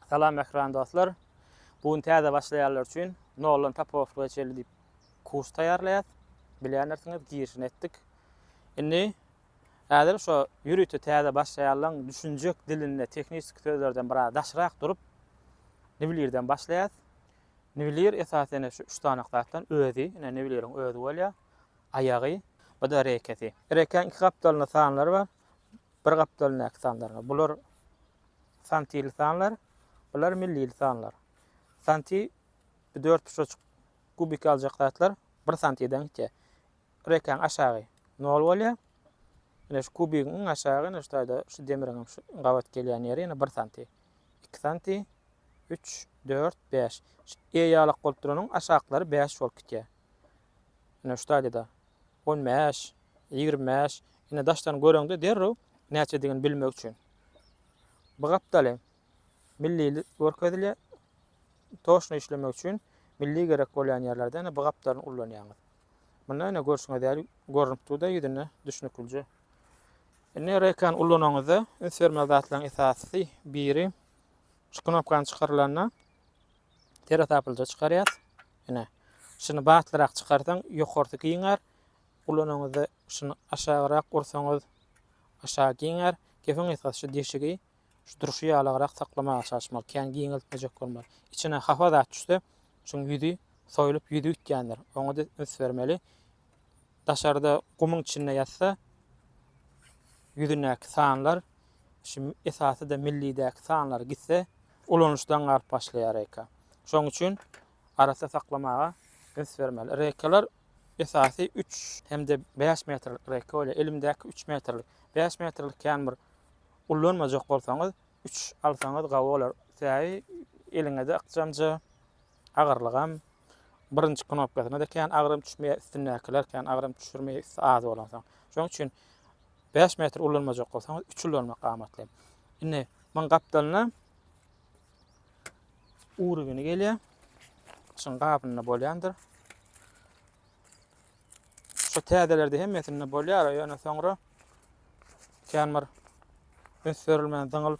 Salam mähriban dostlar! Bu gün täze başlaýanlar üçin noldan tapawutlyga çenli diýip kurs taýýarlaýas. Bilýändirsiňiz, girişini etdik. Indi häzir şo ýörite täze başlaýanlaň düşünjek dilinde tehniki sözlerden biraz daşrak durup, niwlirden başlaýas. Niwlir esasan ine şu üç sanak zatdan özi, ine niwliriň özi bolýar, aýagy, bir-de rekesi. Rekäň iki gapdalynda sanlar bar, bir gapdalyndaky sanlar bar. Bular Santi lsanlar, bular milli lsanlar. Santi, bu dörtburçajyk kubiki aljak zatlar bir santiden gitýär. Rekäň aşagy nol bolýar. Ine şu kubigiň iň aşagy, ine şu taýda şu demiriň hem şu gabat gelýän ýeri ine bir santi. Iki santi, üç, dört, bäş. Şu E ýalak bolup duranyň aşaklary bäş bolup gitýär. Ine şu taýda-da On bäş, ýigrimi bäş. Ine, daşdan göreňde derrew näçedigini bilmek üçin. Bu gapdaly milli görkezilýär. Toşny işlemek üçin milli gerek bolýan ýerlerde ine bu gapdalyny ullanýaňyz. Munda ine görşüňiz ýaly görnüp durda ýüzüne düşnüklije. Ine rekan ullanaňyzda üns bermeli zatlaryň esasysy biri şu knopkany çykarylanda Terasapylja çykarýas. Ine, şuny batlyrak çykarsaň, ýokarsy giňär. Ulanyňyzda şuny aşagyrak ursaňyz, aşagy giňär. Gepiň gysgasy şu deşigi şu durşy ýalagrak saklamaga çalyşmaly. Kän giňeltmejek bolmaly. Içine hafa zat düşse, şuň ýüzi soýlup, ýüzi üýtgändir. Oňa-da üns bermeli. Daşarda gumuň içinde ýatsa, ýüzündäki sanlar, şu esasy-da millidäki sanlar gitse, ulanyşdan galyp başlaýar reýka. Şonuň üçin arassa saklamaga üns bermeli. Reýkalar esasy üç hem-de bäş metrlik reýka bolýar. Elimdäki üç metrlik. Bäş metrlik kän bir ulanmajak bolsaňyz, üç alsaňyz gawy bolar. Sebäbi eliňe-de ykjamja, Agyrlygam birinji knopkasyna-da kän agram düşmeýär, üstündäkiler kän agram düşürmeýär, üsti az bolansoň. Şonuň üçin bäş metr ulanmajak bolsaňyz, üç ulanmak amatly. Indi muň gapdalyna urugini gelýär. Şuň gabynda bolýandyr. Şu täzelerde hemmesinde bolýar, ýöne soňra kän bir üns berilmän zyňylyp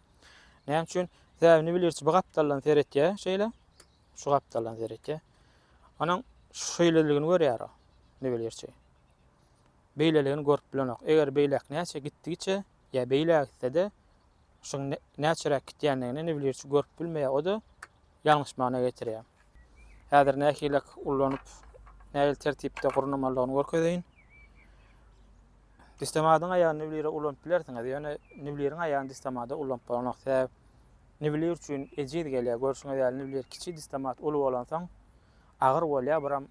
Näme üçin? Sebäbini bilirçi bu gapdaldan seretýär şeýle. Şu gapdaldan seretýär. Onuň şeýleligini görýär o. Ne bilirçi? Beýleligini görüp bilenok. Eger beýläk näçe gitdigiçe, ýa beýläk gitse-de, şuň näçeräk gitýändigini ne bilirçi görüp bilmeýär. O-da ýalňyş mana getirýär. Häzir nähilek ullanyp, nähili tertipde gurnamalydygny görkezeýin. Distomadyň aýagyny niwlire ulanyp bilersiňiz, ýöne niwliriň aýagyny distomada ulanyp bolanok. Sebäbi niwlir üçin ejiz gelýär. Görşüňiz ýaly, niwlir kiçi, distomat uly bolansoň, agyr bolýar. Buram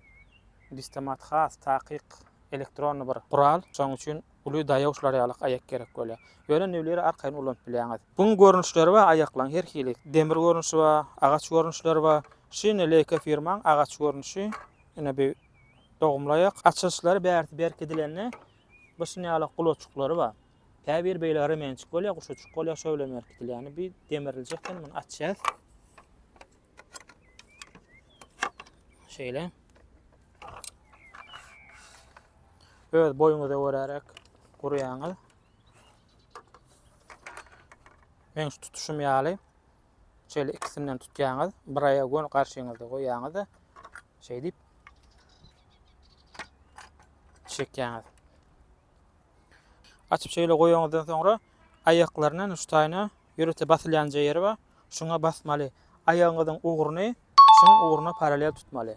distomat has takyk elektronny bir gural. Şonuň üçin uly daýaw uçlary ýaly aýak gerek bolýar. Ýöne newleri arkaýyn ulanyp bilýäňiz. Buň görnüşleri bar, aýaklaň her hili. Demir görnüşi bar, agaç görnüşleri bar. Şu ine Leica firmaň agaç görnüşi. Ine bu dogumly aýak. Açylyşlary bärsi berkidilende bu şun ýaly gulaçyklary bar. Käbiri beýle remençik bolýar, guşajyk bolýar, şo bilen berkidilýär. Bu demiriljek eken, muny açýas. Şeýle. Öz boýuňyza göräräk gurýaňyz. Meň şu tutuşum ýaly şeýle ikisinden tutýaňyz. Bir aýagy göni garşyňyzda goýýaňyz-da şeýdip çekýäňiz. Açyp şeýle goýanyňyzdan soňra aýaklaryny nuştaýyna ýörite basylýanja ýeri bar. Şuňa basmaly. Aýagyňyzyň ugruny şuň ugruna parallel tutmaly.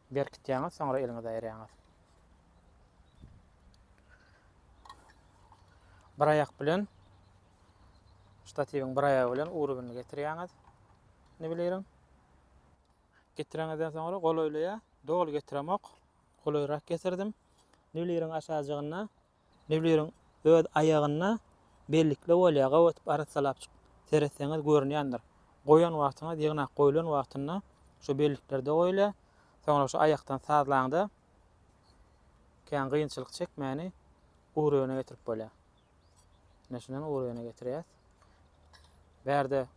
Berkitýäňiz, soňra eliňizi aýyrýaňyz. Bir aýak bilen ştatiwiň bir aýagy bilen urubyny getirýäňiz. Ne bilerin? Getireňizden soňra golaýlaýa doly getiremok. Golaýrak getirdim. Ne bilerin aşajygynda Neblerin öz aýagynda bellikle bolýa gaw edip arassalap çyk seretseňiz görünýändir. Goýan wagtyňyz ýygnak goýlan wagtynda şu belliklerde goýulýa. Soňra şu aýakdan sazlaňda kän gynçylyk çekmäni ugur ýöne getirip bolýa. Ine şundan ugur ýöne getirýäs. Bärde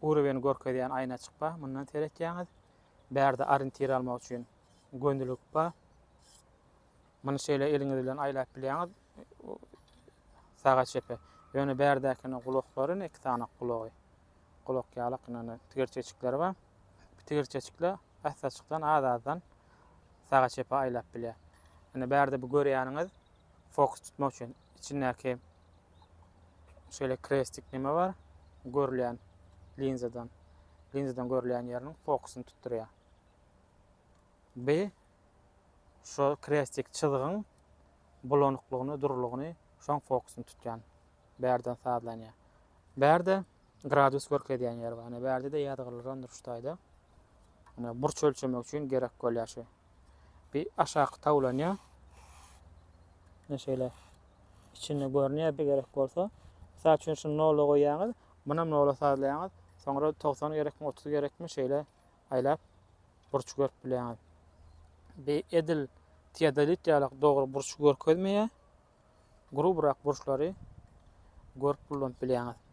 ugur ýöne görkezýän aýnaçyk bar. Mundan seretýäňiz. Bärde orientir almak üçin gönülik bar. Muny şeýle eliňiz bilen aýlap bilýäňiz, saga çepe. Ýöne bärdäkiniň gulaklary ne iki sany gulagy. Gulak ýalak ynany tigirçeçikleri bar. Bu tigirçeçikler assaçykdan az-azdan saga çepe aýlap bilýär. Ine bärde bu görýäniňiz fokus tutmak üçin içindäki şeýle krestik neme bar. Görülýän linzadan linzadan görülýän ýeriniň fokusyny tutdurýar. Bi şu krestik çyzgyň bulanyklygyny, durulygyny, şoň fokusyny tutýan. Bärden sazlanýar. Bärde gradus görkezýän ýeri bar. Ine bärde-de ýazgylaran duruşdaýda. Ine burç ölçemek üçin gerek bolýar şu. Bir aşaky tawlanýar. Ine şeýle içinde görünýär bir gerek bolsa. Mysal üçin şuny nola goýýaňyz, munam nola sazlaýaňyz. Soňra 90 gerekmi, 30 gerekmi şeýle aýlap burç görüp bilýäňiz. Bi edil teodolit ýalak dogry burç görkezmeýär. Grubrak burçlary görüp ullanyp bilýäňiz.